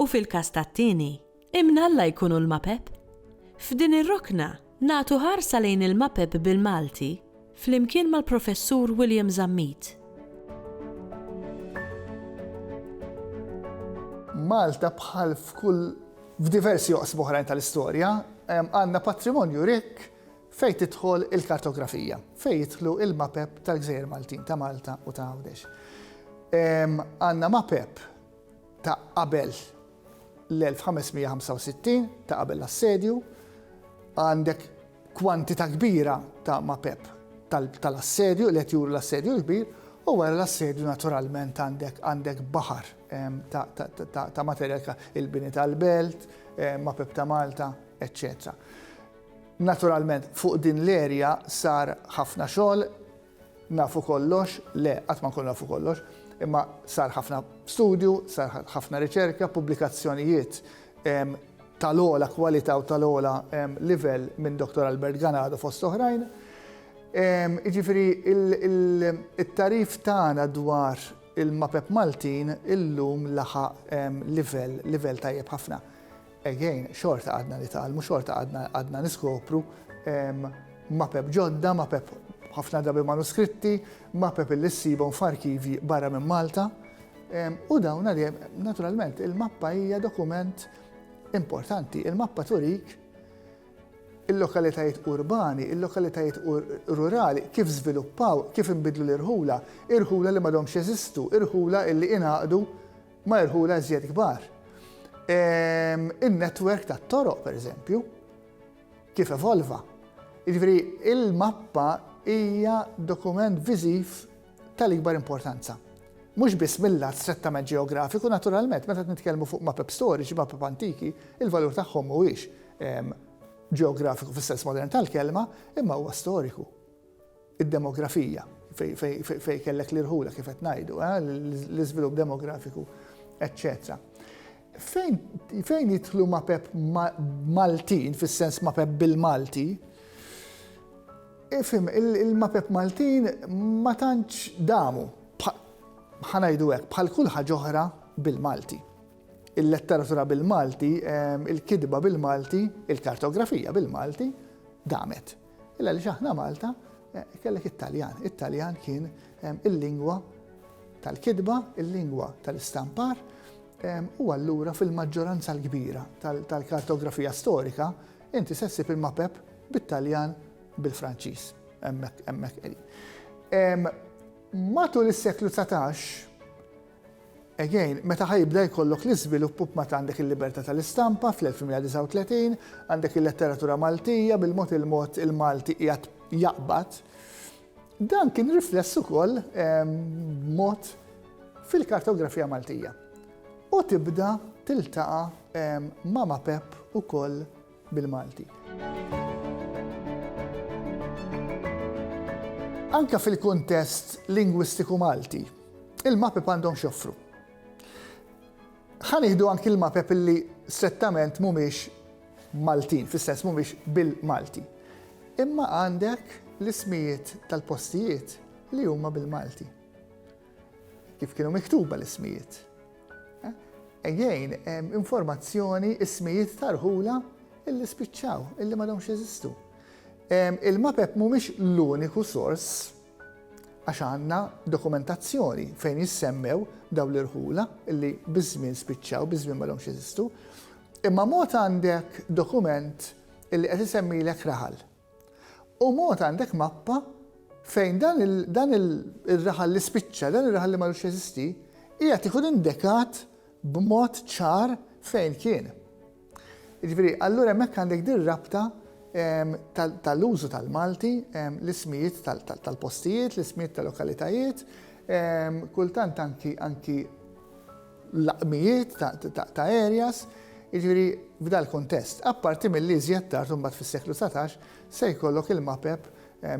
U fil-każ tat-tieni, imnalla jkunu l-mapep. F'din ir-rokna, nagħtu ħarsa lejn il-mapep bil-Malti flimkien mal-Professur William Zammit. Malta bħal f'kull f'diversi oqsma oħrajn tal-istorja, għandna patrimonju rikk fejn tidħol il-kartografija, fejn jidħlu l-mapep tal-gżejjer Maltin, ta' Malta u ta' Għawdex. Għandna mapep ta' qabel l-1565, ta' qabel l-assedju, għandek kwantità kbira ta' mapep tal-assedju, li qed juru l-assedju l-kbir, u wara l-assedju naturalment għandek baħar ta' materjal ka, il-bini tal-belt, mapep ta' Malta, eċċetera. Naturalment fuq din l-erja sar ħafna xogħol, Nafu kollox? Le, qatt ma nkunu nafu kollox. Imma sar ħafna studju, sar ħafna riċerka, pubblikazzjonijiet tal-ogħla kwalità u tal-ogħla livell minn Dottor Albert Ganado fost oħrajn. Jiġifieri it-tagħrif tagħna dwar il-mapep Maltin illum laħaq livell, livell tajjeb ħafna. Again, xorta għadna nitgħallmu, xorta għadna niskopru mapep ġodda, mapep ħafna drabi manuskritti, mapep li ssibhom f'arkivji barra minn Malta. U dawn għaljem, naturalment, il-mappa hija dokument importanti. Il-mappa turik il-lokalitajiet urbani, il-lokalitajiet rurali, kif żviluppaw, kif imbidlu l-irħula, irħula li madomx jeżistu, irħula illi inaqdu ma' irħula iżjed kbar. In-netwerk tat-toroq, pereżempju, kif evolva. Jiġifieri il-mappa hija dokument viżiv tal-ikbar importanza. Mhux biss mill-lat strettament ġeografiku, naturalment, meta qed nitkellmu fuq mapep storiċi, mapep antiki, il-valur tagħhom mhuwiex ġeografiku fis-sens modern tal-kelma, imma huwa storiku. id-demografija, fejn kellek l-irħula kif qed ngħidu, l-iżvilupp demografiku, eċċetera. Fejn jidħlu mapep Maltin, fis-sens mapep bil-Malti, Ifim, il-mapep Maltin ma tantx damu, ħanajdu hekk, bħal kull ħaġa oħra bil-Malti. Il-letteratura bil-Malti, il-kidba bil-Malti, il-kartografija bil-Malti, damet. Illa għaliex aħna Malta eh, kellek it-Taljan. It-Taljan kien eh, il-lingwa tal-kidba, il-lingwa tal-istampar, eh, u allura fil-maġġoranza l-kbira tal-kartografija storika, inti sessi il-mapep bit-Taljan bil-Franċiż. Emmek, emmek. Matul is-seklu 19, Again, meta ħa jibda jkollok l-iżvilupp u b'mata għandek il-libertà tal-istampa fl-1139, għandek il-letteratura Maltija bil-mod il-mod il-Malti qiegħed jaqbad, dan kien rifless ukoll b'mod fil-kartografija Maltija. U tibda tiltaqa' ma' Mapep ukoll bil-Malti. Anke fil-kuntest lingwistiku Malti, il-MAPEP għandhom x'joffru. Ħa nieħdu anki l-MAPEP li strettament mhumiex Maltin, fis-sens mhumiex bil-Malti. Imma għandek l-ismijiet tal-postijiet li huma bil-Malti. Kif kienu miktuba l-ismijiet? Ejjejn, informazzjoni, ismijiet tarħula illi spiċċaw, illi m'għadhomx jeżistu. Il-mapep mhumiex l-uniku sors għax għandna dokumentazzjoni fejn jissemmew daw l-irħula illi biż-żmien spiċċaw, biż-żmien m'għadhomx jeżistu. Imma mod għandek dokument illi qed isemmilek raħal. U mod għandek mappa fejn dan ir-raħal li spiċċa, dan ir-raħal li m'għadux jeżisti, qiegħed ikun indekat b'mod ċar fejn kien. Jiġifieri, allura hemmhekk għandek din rabta tal-użu tal-Malti, l-ismijiet tal-postijiet, l-ismijiet tal-lokalitajiet, kultant anki l-laqmijiet ta' Arias, jiġifieri f'dal-kuntest. Apparti milli iżjed tard imbagħad fis-seklu dsatax se jkollok il-mapep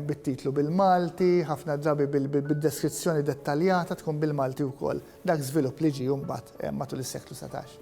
bit-titlu bil-Malti, ħafna drabi bid-deskrizzjoni dettaljata tkun bil-Malti wkoll. Dak żvilupp li ġie imbagħad matul is-seklu dsatax.